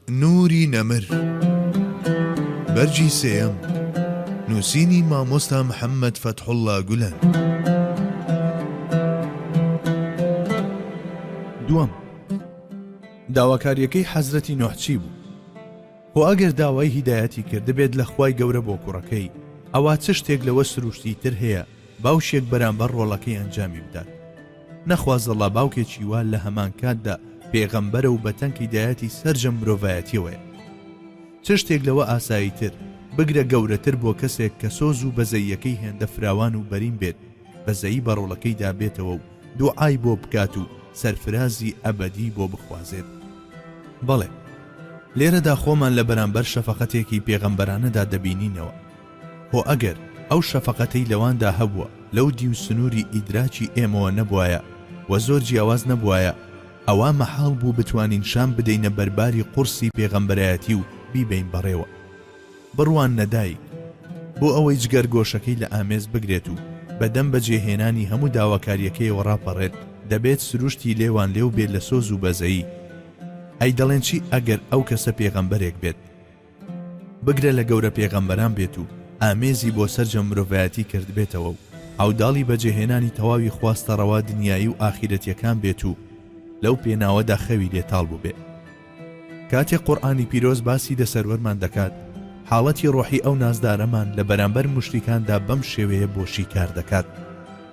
نوری نەمر، بەرگی سێیەم، نووسینی مامۆستا محەممەد فەتحوڵڵا گولەن. دووەم، داواکارییەکەی حەزرەتی نوح چی بوو؟ خۆ ئەگەر داوای هیدایەتی کردبێت لە خوای گەورە بۆ کوڕەکەی، ئەوا چ شتێک لەوە سرووشتیی تر هەیە، باوکێک بەرامبەر ڕۆڵەکەی ئەنجامی بدات نەخوازەڵا باوکێکی وا لە هەمانکاتدا پێغەمبەرە و بە تەنکی دایەتی سەرجەم مرۆڤایەتیەوەیە چ شتێک لەوە ئاسایی تر بگرە گەورەتر بۆ کەسێک کە سۆز و بەزەییەکەی هێندە فراوان و بەرین بێت بەزەیی بە ڕۆڵەکەیدا بێتەوە و دوعای بۆ بکات و سەرفرازی ئەبەدی بۆ بخوازێت بەڵێ لێرەدا خۆمان لە بەرامبەر شەفەقەتێکی پێغەمبەرانەدا دەبینینەوە هۆ ئەگەر ئەو شەفەقەتەی لەواندا هەبووە لەو دیو سنووری ئیدراکی ئێمەوە نەبوایە و زۆر جیاواز نەبوایە، ئەوا مەحاڵ بوو بتوانین شان بدەینە بەرباری قوڕسی پێغەمبەرایەتی و بیبەین بەڕێوە. بڕواننە دایک، بۆ ئەوەی جگەر گۆشەکەی لە ئامێز بگرێت و بەدەم بەجێهێنانی هەموو داواکارییەکەیەوە ڕاپەڕێت، دەبێت سروشتی لێوانلێو بێت لە سۆز و بەزەیی. ئەی دەڵێن چی ئەگەر ئەو کەسە پێغەمبەرێک بێت؟ بگرە لە گەورە پێغەمبەران بێت و ئامێزی بۆ سەرجەم مرۆڤایەتی کردبێتەوە و عەوداڵی بەجێهێنانی تەواوی خواستە ڕەوا دنیایی و ئاخیرەتیەکان بێت و لەو پێناوەدا خەوی لێتاڵ بووبێ کاتێ قورآانی پیرۆز باسی دە سەروەرمان دەکات حاڵەتی ڕۆحی ئەو نازدارەمان لە بەرامبەر مشتیکاندا بەم شێوەیە بۆ شیکار دەکات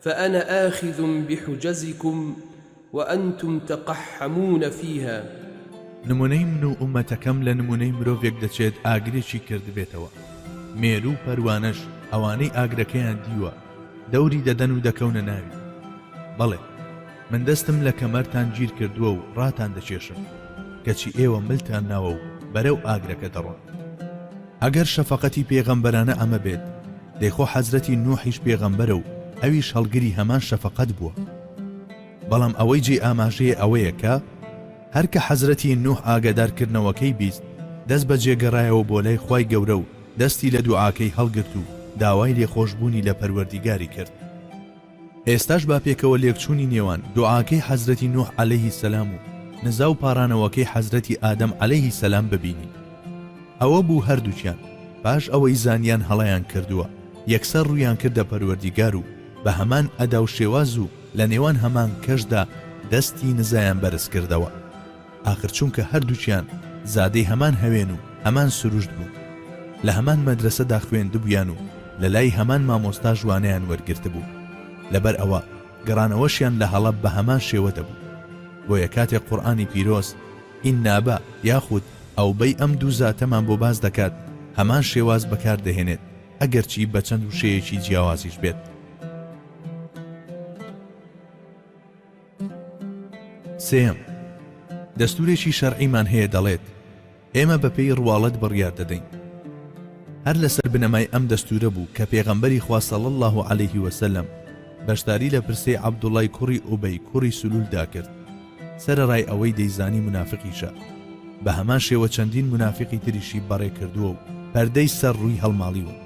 فأنا آخذ بحجزکم وأنتم تقحمون فیها. نمونەی من و ئوممەتەکەم لە نمونەی مرۆڤێک دەچێت ئاگرێکی کردبێتەوە مێرو و پەروانەش ئەوانەی ئاگرەکەیان دیوە دەوری دەدەن و دەکەونە ناوی بەڵێ من دەستم لە کەمەرتان گیر کردووە و ڕاتان دەکێشم کەچی ئێوە ملتان ناوە و بەرەو ئاگرەکە دەڕۆن. ئەگەر شەفەقەتی پێغەمبەرانە ئەمە بێت، دەی خۆ حەزرەتی نوحیش پێغەمبەرە و ئەویش هەڵگری هەمان شەفەقەت بووە. بەڵام ئەوەی جێی ئاماژەیە ئەوەیە کە، هەر کە حەزرەتی نوح ئاگادارکردنەوەکەی بیست، دەست بەجێ گەڕایەوە بۆ لای خوای گەورە و دەستی لە دوعاکەی هەڵگرت و داوای لێخۆشبوونی لە پەروەردیگاری کرد. ئێستاش با پێکەوە لێکچوونی نێوان دوعاکەی حەزرەتی نوح عەلەیه السلام و نزا و پاڕانەوەکەی حەزرەتی ئادەم عەلەیه السلام ببینین. ئەوە بوو هەردووکیان پاش ئەوەی زانیان هەڵەیان کردووە، یەکسەر ڕوویان کردە پەروەردیگار و بە هەمان ئەدا و شێواز و لە نێوان هەمان کەشدا دەستی نزایان بەرز کردەوە. ئاخر چونکە هەردووکیان زادەی هەمان هەوێن و هەمان سروشت بوون، لە هەمان مەدرەسەدا خوێندبوویان و لەلای هەمان مامۆستاش وانەیان وەرگرتبوو، لەبەر ئەوە گەڕانەوەشیان لە هەڵەب بە هەمان شێوە دەبوو. بۆیە کاتێک قورئانی پیرۆز، ان ابا، یاخود، اوبی، ئەم دوو زاتەمان بۆ باس دەکات، هەمان شێواز بەکار دەهێنێت، ئەگەرچی بە چەند وشەیەکی جیاوازیش بێت. سێیەم، دەستوورێکی شەرعیمان هەیە دەڵێت، ئێمە بەپێی ڕواڵەت بڕیار دەدەین. هەر لەسەر بنەمای ئەم دەستوورە بوو کە پێغەمبەری خوا صلی اللە علیه وسلم بەشداری لە پرسەی عەبدوڵڵای کوڕی ئوبەی کوڕی سلولدا کرد، سەرەڕای ئەوەی دەیزانی مونافقیشە، بە هەمان شێوە چەندین مونافقی تریشی بەڕێ کردووە و پەردەی سەر ڕووی هەڵماڵیون.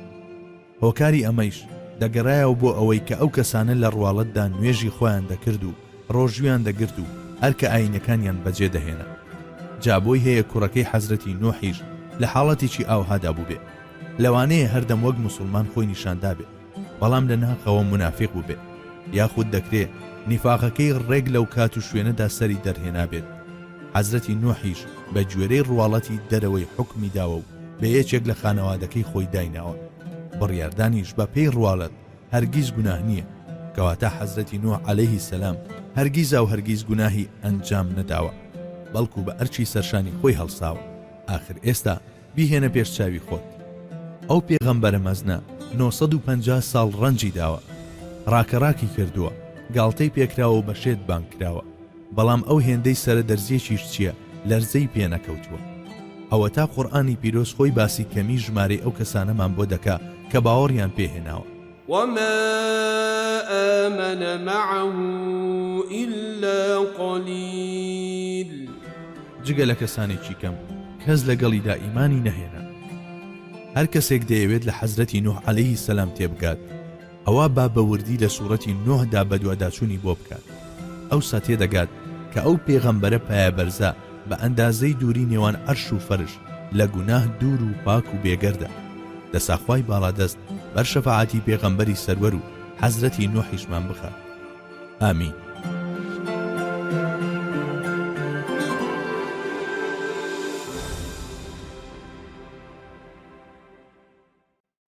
هۆکاری ئەمەیش دەگەرایەوە بۆ ئەوەی کە ئەو کەسانە لە ڕواڵەتدا نوێژی خۆیان دەکرد و ڕۆژوویان دەگرت و ئەرکە ئایینەکانیان بەجێ دەهێنا جا بۆی هەیە کوڕەکەی حەزرەتی نوحیش لە حاڵەتێکی ئاوهادا بووبێ لەوانەیە هەردەم وەک موسڵمان خۆی نیشاندابێ بەڵام لە ناخەوە منافق بووبێ یاخود دەکرێ نیفاقەکەی ڕێک لەو کات و شوێنەدا سەری دەرهێنابێت حەزرەتی نوحیش بە گوێرەی ڕواڵەتی دەرەوەی حکمی داوە و بە یەکێک لە خانەوادەکەی خۆی دایناوە بڕیاردانیش بە پێی ڕواڵەت هەرگیز گوناه نییە کەواتە حەزرەتی نوح عەلەیهی سەلام هەرگیزا و هەرگیز گوناهی ئەنجام نەداوە بەڵکو بە ئەرکی سەرشانی خۆی هەڵساوە ئاخر ئێستا بیهێنە پێش چاوی خۆت ئەو پێغەمبەرە مەزنە 950 ساڵ ڕەنجی داوە ڕاکەڕاکی کردووە گاڵتەی پێکراوە و بە شێت بانگ کراوە بەڵام ئەو هێندەی سەرە دەرزیەکیش چیە لەرزەی پێ نەکەوتووە. ئەوەتا قورئانی پیرۆز خۆی باسی کەمی ژمارەی ئەو کەسانەمان بۆ دەکا کە باوەڕیان پێ هێناوە. وما آمن معه الا قلیل. جگە لە کەسانێکی کەم کەس لەگەڵیدا ئیمانی نەهێنا. هەر کەسێک دەیەوێت لە حەزرەتی نوح علیە سلام تێبگات، ئەوا با بە وردی لە سوڕەتی نوح دا بەدواداچوونی بۆ بکات ئەوسا تێدەگات کە ئەو پێغەمبەرە پایەبەرزە بە ئەندازەی دووری نێوان عەرش و فەرش لە گوناه دوور و پاک و بێگەردە دەسا خوای باڵادەست بەر شەفاعەتی پێغەمبەری سەروەر و حەزرەتی نوحیشمان بخات ئامین.